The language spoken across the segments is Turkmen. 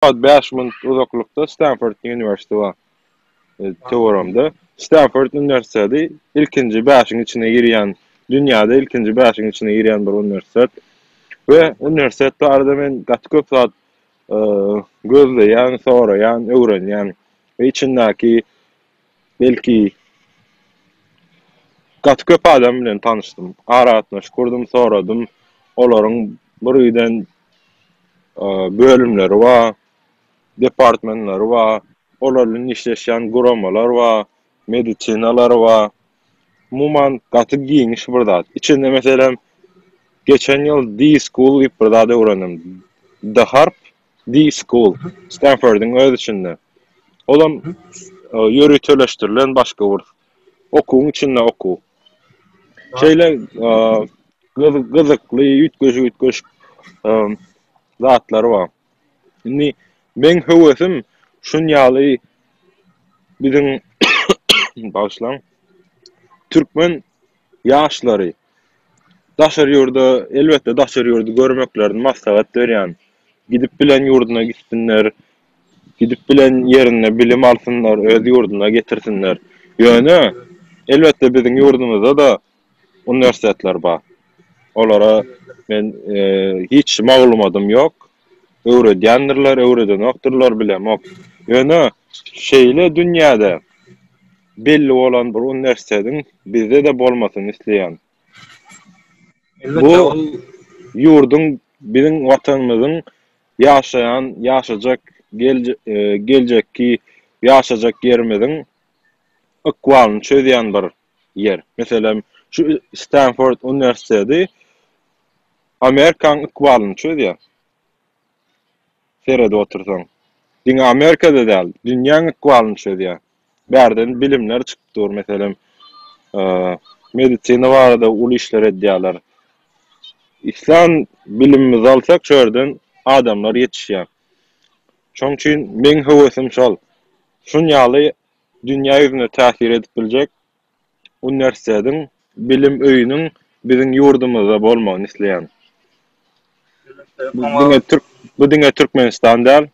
Ýa-da bäş mil uzaklykda Stanford uniwersiteti bar. Töweregimde Stanford uniwersiteti ilkinji bäşiň içine girýän, dünýäde ilkinji bäşiň içine girýän bir uniwersitet we uniwersitet barada men gaty köp zat gözleýän, soraýan, öwrenýän we içindäki Belki, gaty köp adam bilen tanyşdym, aragatnaşyk gurdum, soradym. Olaryň bir giden bölümleri bar, departmentleri bar, olar bilen işleşýän guramalar bar, medisinalary bar. Umuman, gaty giňiş bir zat. Içinde, meselem, geçen ýyl D-School diýip bir zat öwrendim. D-Harp, Di School, Stenfordyň öz içinde. Olam ýöriteleşdirilen başga bir okuwyň içinde okuw. Şeýle gyzykly, üýtgeşik-üýtgeşik zatlary bar. Indi meň höwesim şunýaly biziň, bagyşlaň, türkmen ýaşlary. Daşary ýurda, elbetde, daşary ýurdy görmeklerini maslahat berýän. Gidip bilen ýurduna gitsinler, gidip bilen ýerinde bilim alsynlar, öz ýurduna getirsinler. Ýöne, elbetde, biziň ýurdumyzda-da uniwersitetler bar. Olara men, eee, hiç maglumadym ýok. Öwredýändirler, öwredenokdyrlar, bilemok. Ýöne şeýle dünýäde belli bolan bir uniwersitetiň bizde-de bolmasyny isleýän. Bu ýurduň, biziň Watanymyzyň ýaşaýan, ýaşajak, geljekki ýaşajak ýerimiziň ykbalyny çözýän bir ýer. Meselem, şu Stanford uniwersiteti Amerikaň ykbalyny çözýär. Seredip otursaň. Diňe Amerikada däl, dünýäň ykbalyny çözýär. Bärden bilimler çykyp dur, meselem, medisina barada uly işler edýärler. Islan bilimimizi alsak, şu ýerden adamlar ýetişýär. Şoň üçin meň höwesim şol. Şun ýaly dünýä ýüzüne täsir edip biljek uniwersitetiň, bilim öýüniň biziň ýurdumyzda bolmagyny isleýän. Bu diňe türk bu diňe Türkmenistan däl.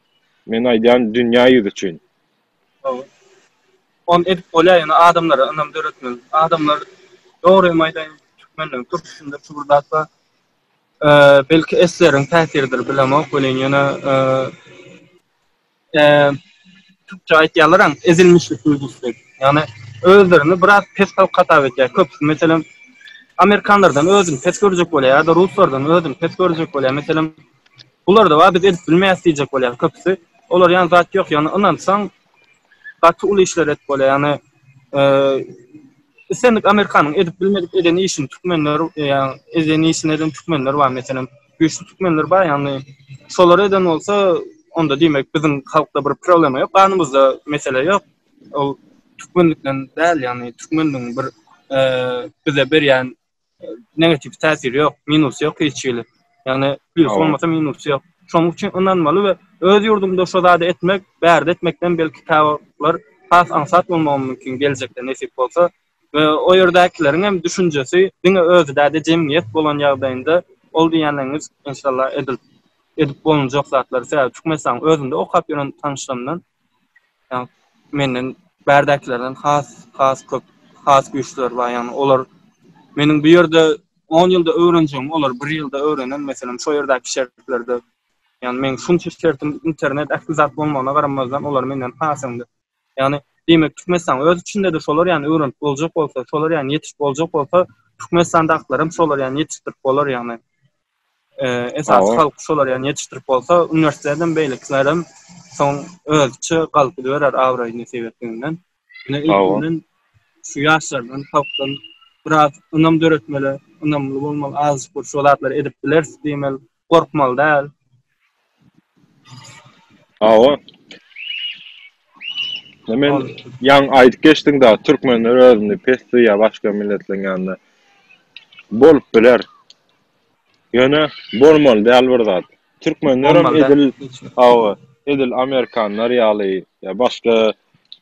Men aýdýan dünýä ýüzi üçin. Hawa. Ony edip bolýar ýöne adamlara ynam döretmeli. Adamlar dogrymy aýdaýyn türkmenleriň turpusynda şu bir zat bar. Belki SSR-iň täsiridir bilemok welin ýöne Türkçe aýtýarlaram ezilmişlik duýgusy diýip. Ýagny özlerini biraz pes halk hasap edýär köpüsi. Meselem, amerikanlardan özüni pes görjek bolýar ýa-da ruslardan özüni pes görjek bolýar. Meselem, bularda bar biz edip bilmeýäs diýjek bolýar köpüsi. Olar ýan zat ýok. Ýagny ynansaň gaty uly işler edip bolýar. Ýagny islendik amerikanyň edip bilmedik eden işini türkmenler ýa eden işini eden türkmenler bar meselem. güýçli türkmenler bar ýagny şolar eden bolsa onda diýmek biziň halkda bir problema ýok ganymyzda mesele ýok ol türkmenlikden däl ýagny türkmenligiň bir e, bize berýän e, negativ täsiri ýok minusy ýok hiç hili ýagny plusy bolmasa minusy ýok şonuň üçin ynanmaly we öz ýurduňda şo zady etmek bärde etmekden belki kitaplar has aňsat bolmagy mümkin geljekde nesip bolsa we o ýerdäkileriň hem düşünjesi diňe özi däl-de jemgyýet bolan ýagdaýynda ol diýýänleriňiz enşalla edil edip bolunjak zatlar. Sebäbi Türkmenistanyň özünde okap ýören tanyşlarymdan ýagny menden bärdäkilerden has has köp has güýçlüler bar ýagny olar meniň bu ýerde on ýylda öwrenjegimi olar bir ýylda öwrenen meselem şo ýerdäki şertlerde ýagny meň şunça şertim internet ähli zat bolmagyna garamazdan olar menden has öňde. Ýagny, diýmek, Türkmenistan öz içinde-de şolar ýaly öwrenip boljak bolsa, şolar ýaly ýetişip boljak bolsa, Türkmenistandakylar hem şolar ýaly ýetişdirip bolar ýagny. Esasy halk şolar ýaly ýetişdirip bolsa, uniwersitet hem, beýlekiler hem soň özüçe galyp gidiberer abraýyny sebetliginden. Ine, ilkinden şu ýaşlardan, halkdan biraz ynam döretmeli, ynamly bolmaly, azajyk bir şu zatlary edip bileris diýmeli. Gorkmaly däl. Hawa. Men ýaňy aýdyp geçdim da, türkmenler özüni pes duýýar başga milletleriň ýanynda. Bolup biler. Ýöne bolmaly däl bir zat. Türkmenler hem edil, hawa, edil amerikanlar ýaly ýa başga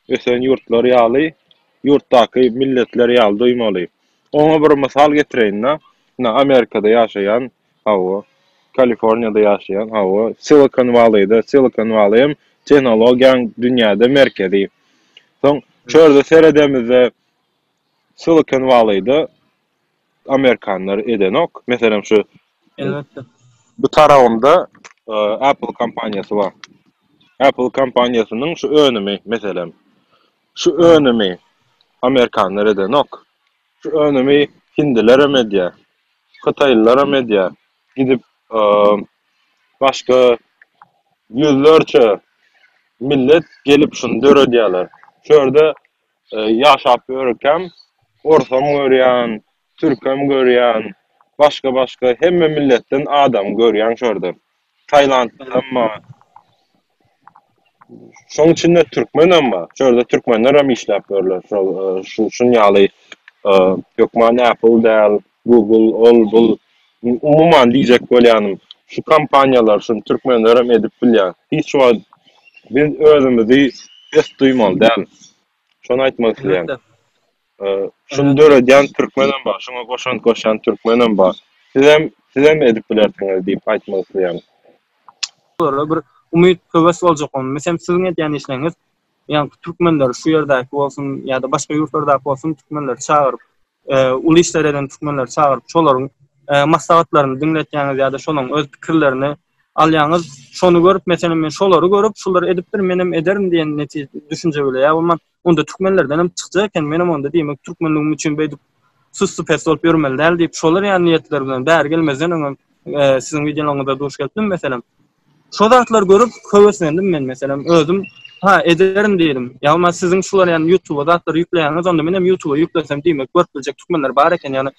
ösen ýurtlar ýaly, ýurtdaky milletler ýaly duýmaly. Oňa bir mysal getireýin-de, ine Amerikada ýaşaýan Hawa. Kaliforniýada ýaşaýan, hawa. Silikon Walleýde, Silikon Walleý hem tehnologiýaň dünýäde merkezi. Soň çörde seredemizde, Silikon Walleýde amerikanlar edenok. Meselem, şu Elbetde. bu tarabymda Apple kompaniýasy bar. Apple kompaniýasynyň şu önümi, meselem, şu önümi amerikanlar edenok. Şu önümi hindilerem edýär, hytaýlylaram edýär. Gidip başga ýüzlerçe millet gelip şuny döredýärler. Şu ýerde ýaşap ýörkäm orsam görýän, türkem görýän, başga-başga hemme milletden adam görýän şu ýerde. Tailandly hem bar. Şoň içinde türkmen hem bar. Şu ýerde türkmenler hem işläp ýörler. Şol şu şun ýaly hökman Apple däl, Google ol bul. Umuman diýjek bolýanym, şu kompaniýalar şuny türkmenler hem edip bilýär. Hiç wagt biz özümizi pes duýmaly däl. Şony aýtmak isleýän. Şuny döredýän türkmenem bar, şuňa goşant goşýan türkmenem bar. Sizem, sizem edip bilersiňiz diýip aýtmak isleýärin. Olara bir umyt, höwes boljak onda. Meselem, siziň edýän işleriňiz ýaňky türkmenleri, şu ýerdäki bolsun ýa-da başga ýurtlardaky bolsun türkmenleri çagyryp, uly işler eden türkmenleri çagyryp, şolaryň maslahatlaryny diňletýäňiz ýa-da şolaryň öz pikirlerini alýaňyz. Şony görüp, meselem, men şolary görüp, şular edipdir, menem ederin diýen netije, düşünje bilen ýa bolman, onda türkmenlerden hem çykjak eken, menem onda diýmek türkmenligim üçin beýdip süssu-pes bolup ýörmeli däl diýip, şolar ýaly niýetler bilen bäri gelmezden öňem siziň wideolaryňyza duş gelipdim, meselem. Şo zatlary görüp höweslendim men, meselem, özüm, ha, ederin diýdim. Ýa bolmasa siziň şular ýaly ýutuba zatlary ýükleýäňiz, onda menem ýutuba ýüklesem diýmek görüp biljek türkmenler bar eken, ýagny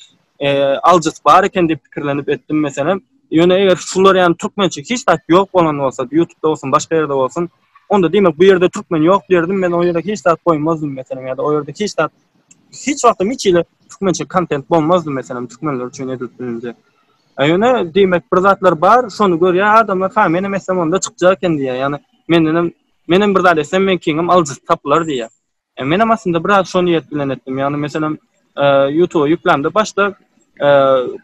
aljysy bar eken diýip pikirlenip etdim meselem. Ýöne eger şular ýaly türkmençe hiç zat ýok bolan bolsa, ýutupda bolsun, başga ýerde bolsun, onda diýmek bu ýerde türkmen ýok diýerdim, men o ýere hiç zat goýmazdym meselem ýa-da o ýerde hiç zat hiç wagtam hiç hili türkmençe kontent bolmazdy meselem türkmenler üçin edilip bilinjek. E, ýöne diýmek bir zatlar bar, şony görýär adamlar, ha menem etsem onda çykjak eken diýýär. Ýagny mendenem menem bir zat etsem meňkiňem aljysy tapylar diýýär. Menem aslynda biraz şo niýet bilen etdim. Ýagny meselem Ýutuba ýüklämde başda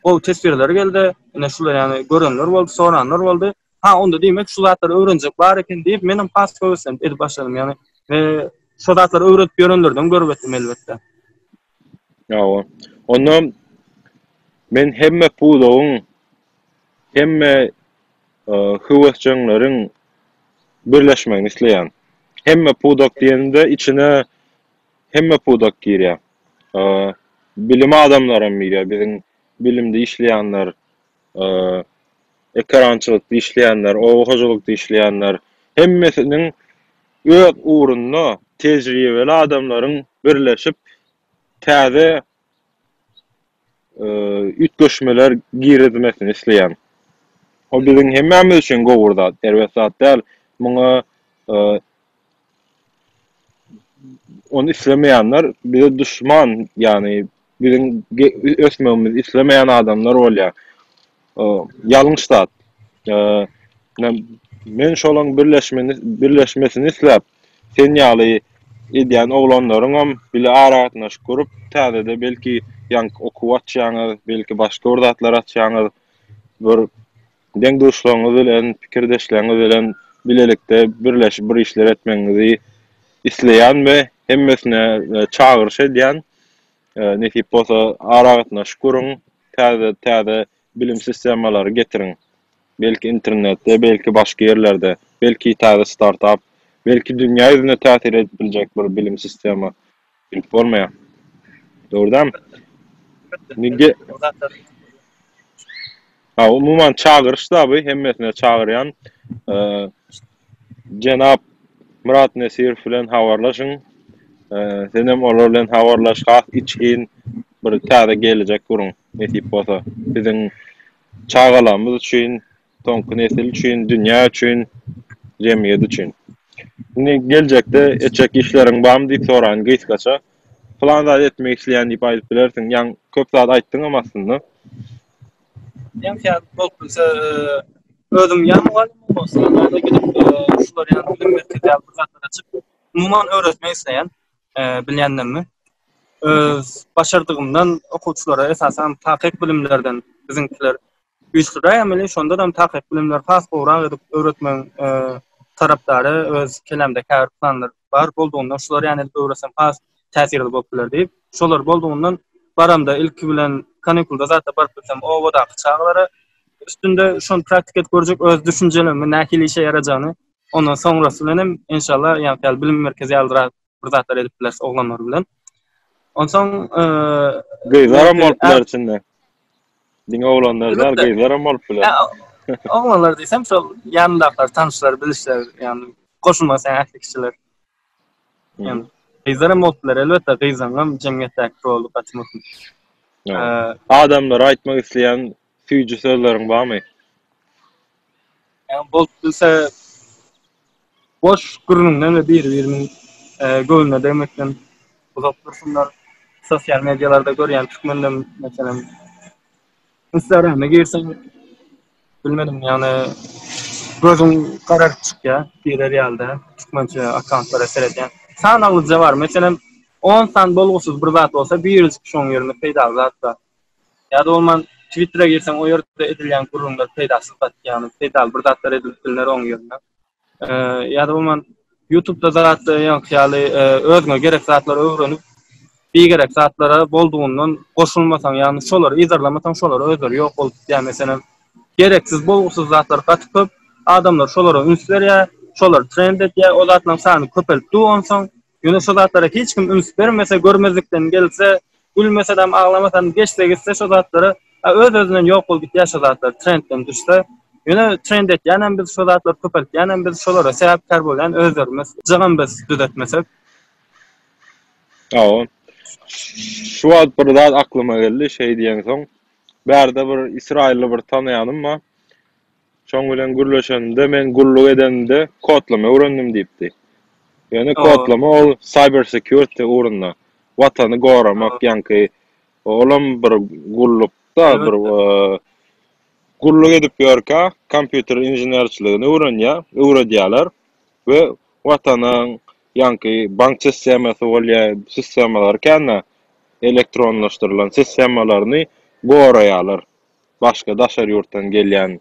gowy teswirler geldi. Ine şular ýagny görenler boldy, soranlar boldy. Ha onda diýmek şu zatlary öwrenjek bar eken diýip menem has höweslenip edip başladym. Ýagny we şo zatlary öwredip ýörenlerden görüp etdim elbetde. Hawa. Onda men hemme pudagyň, hemme höwesjeňleriň birleşmegini isleýän. Hemme pudak diýenimde içine hemme pudak girýär. Bilim adamlaram girýär, biziň bilimde işleýänler, ekerançylykda işleýänler, oba hojalykda işleýänler, hemmesiniň öz ugrunda tejribeli adamlaryň birleşip, täze üýtgeşmeler girizmesini isleýän. Bu biziň hemmämiz üçin gowy bir zat, erbet zat däl. Muňa Ony islemeýänler bize duşman, ýagny biziň ösmegimizi islemeýän adamlar bolýar. Ýalňyş zat. Men şolaň birleşmegini, birleşmesini isläp, sen ýaly edýän oglanlaryňam bile aragatnaşyk gurup, täzede belki ýaňky okuw açýaňyz, belki başga bir zatlar açýaňyz. Deň-duşlaryňyz bilen, pikirdeşleriňiz bilen bilelikde birleşip bir işler etmegiňizi isleýän we hemmesine çagyryş edýän. Nesip bolsa, aragatnaşyk guruň, täze-täze bilim sistemalary getiriň. Belki internetde, belki başga ýerlerde, belki täze startap, belki dünýä ýüzüne täsir edip biljek bir bilim sistema Bilip bolmaýar. Dogrudanam. Nigde. Ha, umuman çagyryş zaby hemmesine çagyrýan. Eee jenap Myrat Nesirow bilen habarlaşyň. Eee senem olar bilen habarlaş, has içgin bir täze geljek guruň, nesip bolsa. Biziň çagalarymyz üçin soňky nesil üçin, dünýä üçin, jemgyýet üçin. Indi geljekde etjek işleriň barmy diýip soraýyn gysgaça. Pylan zady etmek isleýän diýip aýdyp bilersiň. Ýaňy köp zat aýtdyňam aslynda. Ýaňky ýaly bolup bilse, özüm ýa mugallymlyk bolsa, ýa-da gidip şular ýaly bilim merkezi ýaly bir zatlar açyp, umuman öwretmek isleýän, bilýänlerimi. Öz başardygymdan okuwçylara, esasanam takyk bilimlerden, biziňkiler Üýtgeşik emeli şondanam takyk bilimleri has gowrak edip öwretmegiň tarapdary öz kelamda käbir planlar bar boldugyndan şular ýaly edip öwretsem has täsirli bolup biler diýip şolar boldugyndan baramda ilki bilen kanikulda zatda baryp bilsem obadaky çagalara üstünde şony praktik edip görjek öz düşünjelerimi nähili işe ýarajagyny ondan soňrasy bilen hem enşalla ýaňky ýaly bilim merkezi ýalyrak bir zatlar edip bileris oglanlar bilen. Onsoň gyzlar hem bolup biler içinde. Diňe oglanlar däl, gyzlar hem bolup biler. Oglanlar diýsem, şol ýanyndakylar, tanşlar, bilişler, ýagny goşulmak isleýän ähli kişiler. Ýagny gyzlar hem bolup biler, elbetde, gyzlaryň hem jemgyýetdäki roly gaty möhüm. Adamlara aýtmak isleýän Süýji sözleriň barmy? Ýa bolup bilse, boş gürrüňden we biri-biriniň göwnüne degmekden uzak dursunlar. Sosial medialarda görýän türkmenlem, meselem, Instagrama girseň, bilmedim, ýagny gözüň gararyp çykýar, diýler ýaly-da, türkmençe akkauntlara seredýän. Sanaglyja bar, meselem, on sany bolgusyz bir zat bolsa, birjik şoň ýerinde peýdaly zat bar. Ýa-da bolman Twittera girseň o ýerde edilýän gürrüňler peýdasyz zat ýagny peýdaly bir zatlar edilip bilner oň ýerine. Ýa-da bolman Youtubda zatlar ýaňky ýaly özüňe gerek zatlary öwrenip bigerek zatlara boldugyndan goşulmasaň ýagny şolary yzarlamasaň şolar özleri ýok bolup gidýär meselem gereksiz bolgusyz zatlar gaty köp adamlar şolara üns berýär şolar trend edýär o zatlaryň sany köpelip dur onsoň Ýöne şo zatlara hiç kim üns bermese, görmezlikden gelse, gülmesedem, aglamasadam geçse gitse şo zatlara, a öz-özünden ýok bolup gitýär şo zatlar, trendden düşse. Ýöne trend etýänem biz, şo zatlary köpeltýänem biz, şolara sebäpkär bolýan özlerimiz, jygym biz düzetmesek. Hawa. Şu wagt bir zat aklyma geldi, şeý diýeňsoň, bärde bir ysraýylly bir tanaýanym bar. Şoň bilen gürleşenimde, men gulluk edenimde kodlama öwrendim diýipdi. Ýöne kodlama ol cyber security ugrunda, watany goramak, ýaňky olam bir gullukda, bir gulluk edip ýörkä, kompýuter inženerçiligini öwrenýär, öwredýärler we watanyň ýaňky bank sistemasy bolýar, sistemalary kän-ä elektronlaşdyrylan sistemalaryny goraýarlar. başga daşary ýurtdan gelýän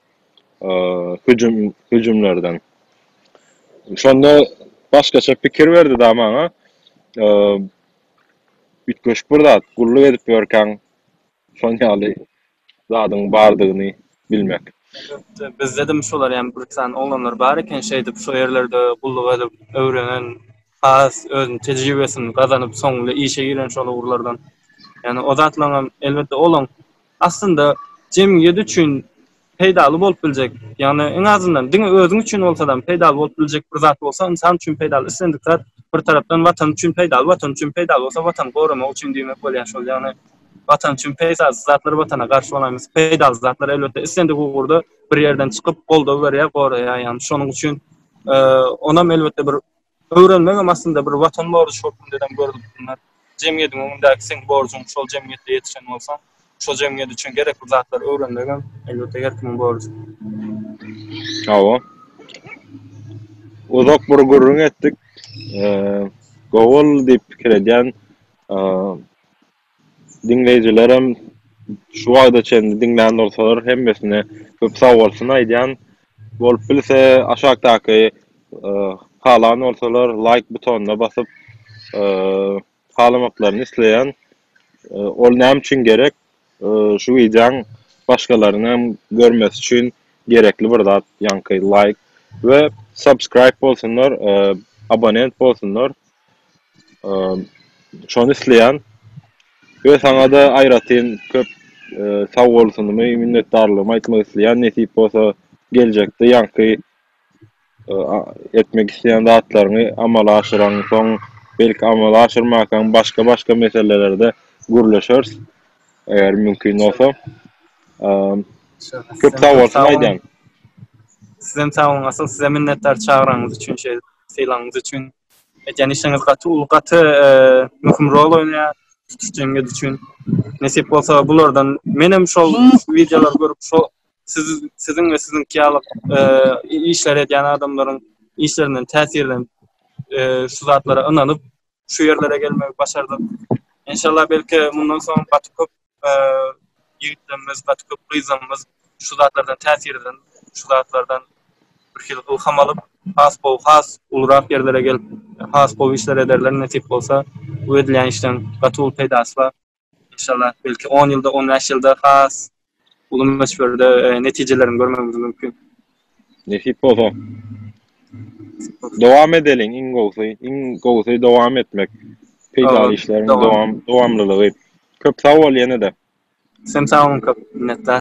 hüjüm hüjümlerden. Şonda başgaça pikir berdi da maňa. Üýtgeşik bir zat, gulluk edip ýörkäň şon ýaly zadyň bardygyny bilmek. Elbetde, bizdedem şolar ýaly bir sany oglanlar bar eken, şeýdip şo ýerlerde gulluk edip öwrenen, has özüni tejribesini gazanyp soňunda işe giren şol ugurlardan. Ýani o zatlaryňam elbetde olaň aslynda jemgyýet üçin peýdaly bolup biljek, ýagny iň azyndan diňe özüň üçin bolsadam peýdaly bolup biljek bir zat bolsa, ynsan üçin peýdaly islendik zat, bir tarapdan Watan üçin peýdaly, Watan üçin peýdaly bolsa Watany goramak üçin diýmek bolýar, şol ýagny Watan üçin peýdasy zatlar Watana garşy bolaýmasyn, peýdaly zatlar elbetde islendik ugurda bir ýerden çykyp goldaw berýär, goraýar, ýagny şonuň üçin onam elbetde bir Öwrenmegem aslynda bir watan borjy hökmündenem görlüp bilner. Jemgyýetiň öňündäki seň borjuň, şol jemgyýetde ýetişen bolsaň, şo jemgyýet üçin gerekli zatlary öwrenmegem, elbetde, her kimiň borjy. Hawa. Uzak bir gürrüň etdik. Gowy boldy diýip pikir edýän Diňleýjilerem şu wagta çenli diňlän bolsalar hemmesine köp sag bolsun aýdýan. Bolup bilse aşakdaky halan bolsalar laýk butonyna basyp halamaklaryny isleýän. Ol näme üçin gerek? Şu wideoň başgalaryň hem görmesi üçin gerekli bir zat ýaňky laýk we subscribe bolsunlar, abonent bolsunlar. Şony isleýän we saňa-da aýratyn köp sag bolsunymy, minnetdarlygymy aýtmak isleýän, nesip bolsa geljekde ýaňky etmek isleýän zatlaryňy amala aşyraňsoň, belki amala aşyrmankaň başga-başga meselelerde gürleşeris, eger mümkin bolsa. Köp sag bolsun aýdýan. Sizem sag boluň, asyl size minnetdar çagyraňyz üçin, şeýdip sylagyňyz üçin. Edýän işiňiz gaty uly, gaty möhüm rol oýnaýar tutuş jemgyýet üçin. Nesip bolsa bulardan menem şol wideolary görüp şo siz siziň we siziňki ýaly işleri edýän adamlaryň işlerinden täsirlenip şu zatlara ynanyp şu ýerlere gelmegi başardym. Enşalla belki mundan soň gaty köp Ýigitlerimiz gaty köp gyzlarymyz şu zatlardan täsirlenip, şu zatlardan birhili ylham alyp, has gowy, has ulurak ýerlere gelip, has gowy işler ederler nesip bolsa. Bu edilýän işleň gaty uly peýdasy bar. Enşallah, belki on ýylda, on bäş ýylda has uly möçberde netijeleriňi görmegimiz mümkin. Nesip bolsa dowam edeliň iň gowsy. Iň gowsy dowam etmek. Peýdaly işleriň dowam dowamlylygy. Köp sag bol ýene-de. Sen sag bol köp minnetdar.